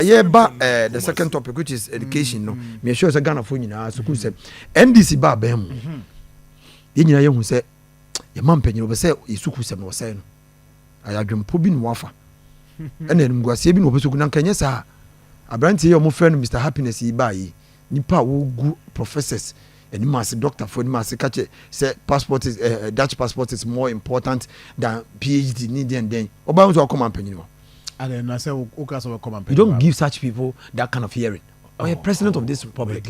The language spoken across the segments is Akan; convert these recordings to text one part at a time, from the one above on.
yɛba the second topic which is education no mm-hmm. meyɛ sure sɛ ghanafoɔ nyinaa sukuu sɛ mm-hmm. ndc ba abɛn mu mm-hmm. yɛn nyinaa yɛhu sɛ yɛma mpanyin wɔpɛ sɛ yɛ sukuu sɛm na wɔsɛe no ayɛ adwempo bi na wɔafa ɛna animguaseɛ bi na wɔpɛ sukuu na nka nyɛ saa aberanteɛ yɛ wɔfrɛ no mr happiness yi baa yi nipa a wɔgu professors anim ase doctorfoɔ anim ase kakyɛ sɛ passport is uh, dutch passport is more important than phd ne deɛn dɛn ɔbaa nso akɔma mpanyin hɔ And then I say, you don't give such people that kind of hearing. Oh, or a president oh, of this republic.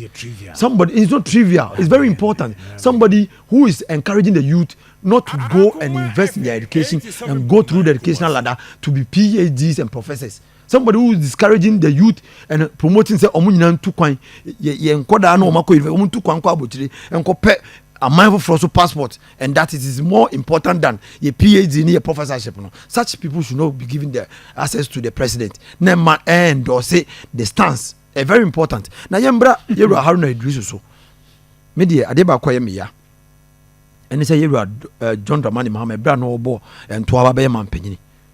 Somebody, it's not trivial. It's very important. Somebody who is encouraging the youth not to ah, go and invest in their education and go through the educational ladder to be PhDs and professors. Somebody who is discouraging the youth and promoting say ọmọ nyinaa ntu kwan yẹ yẹ nkọdaa na ọmọ akọ yunifásitì ọmọ ntu kwan kọ abotire nkọ pẹ aman foforọ so passport and that it is more important than your phd ne your professorship no such people should not be given the access to the president na ma endorse the stance eh, very important na yɛmbra yɛwura haruna idrisu so me deɛ adeɛ baakɔ yɛ meya ɛne sɛ yɛwura eh, john dramani mahama ɛberɛ a na ɔbɔ eh, ntoa ba bɛyɛ mampanyini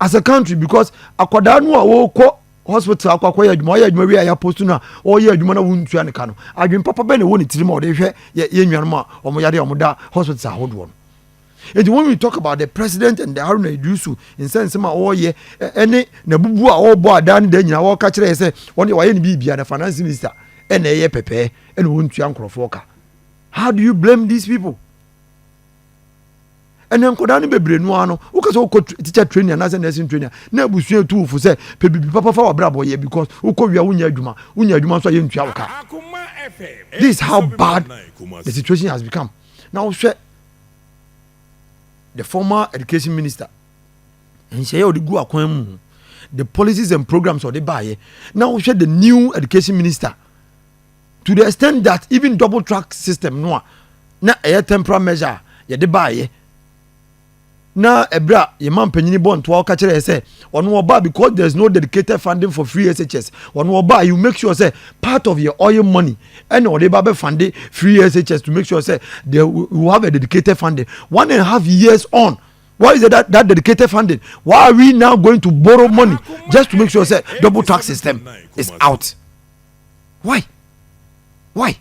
as a country because akwadaa no a wɔkɔ hospital akɔ akɔyɛ adwuma ɔyɛ adwuma wie a yɛaposto no a ɔyɛ adwuma no a wontua ne ka no adwene papa bɛn na ɛwɔ ne tirim a ɔde hwɛ yɛ nuanom a wɔn yare a wɔda hospital ahodoɔ no nti when we talk about the president and the haruna idrisu nsɛnsɛm a ɔreyɛ ɛne n'abubuo a ɔrebɔ adaa ne da nyinaa wɔreka kyerɛ yɛ sɛ wɔn deɛ wɔayɛ ne biribia na finance minister ɛna ɛyɛ pɛpɛɛ ɛna wɔntua nkurɔfoɔ ka how do you blame these people ɛnɛ nkɔdaa no bebree no ara no wokɛ sɛ wokɔ teacher training anaasɛ nursing training na abusua ɛtu wo fo sɛ pɛ biribi papa fa wabrabɔ yɛ because wokɔ wia wonya adwuma wonya adwuma nso a yɛntua wo ka this is how bad the situation has become na wohwɛ the former education minister nhyɛeɛ ɔde gu akwan mu the policies and programs ɔde baeɛ na wohwɛ the new education minister to the extent that even double track system no a na ɛyɛ temporal measure a yɛde baayɛ na ɛberɛ a yɛn ma mpanyini bɔ ntoa ɔka kyerɛ yɛ sɛ ɔno ɔbaa because there is no dedicated funding for free shs ɔno ɔbaa you make sure sɛ part of your oil money ɛna ɔde ba bɛ funding free shs to make sure sɛ they will have a dedicated funding one and a half years on Why is that, that dedicated funding? Why are we now going to borrow money just to make sure that double tax system is out? why why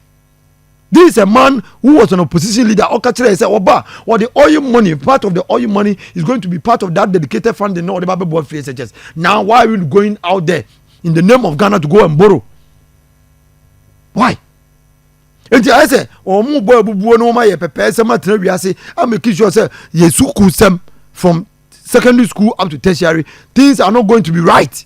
this is a man who was an opposition leader ɔka kyerɛ yɛ sɛ ɔba ɔde oil money part of the oil money is going to be part of that dedicated funding na ɔde ba bɛboa free shs now why are we going out there in the name of ghana to go and borrow why nti ayɛ sɛ wɔn bɔ abubuo no wɔn ayɛ pɛpɛɛ sɛm atena wiase ameki sure sɛ yɛ sukuu sɛm from secondary school up to tertiary things are not going to be right.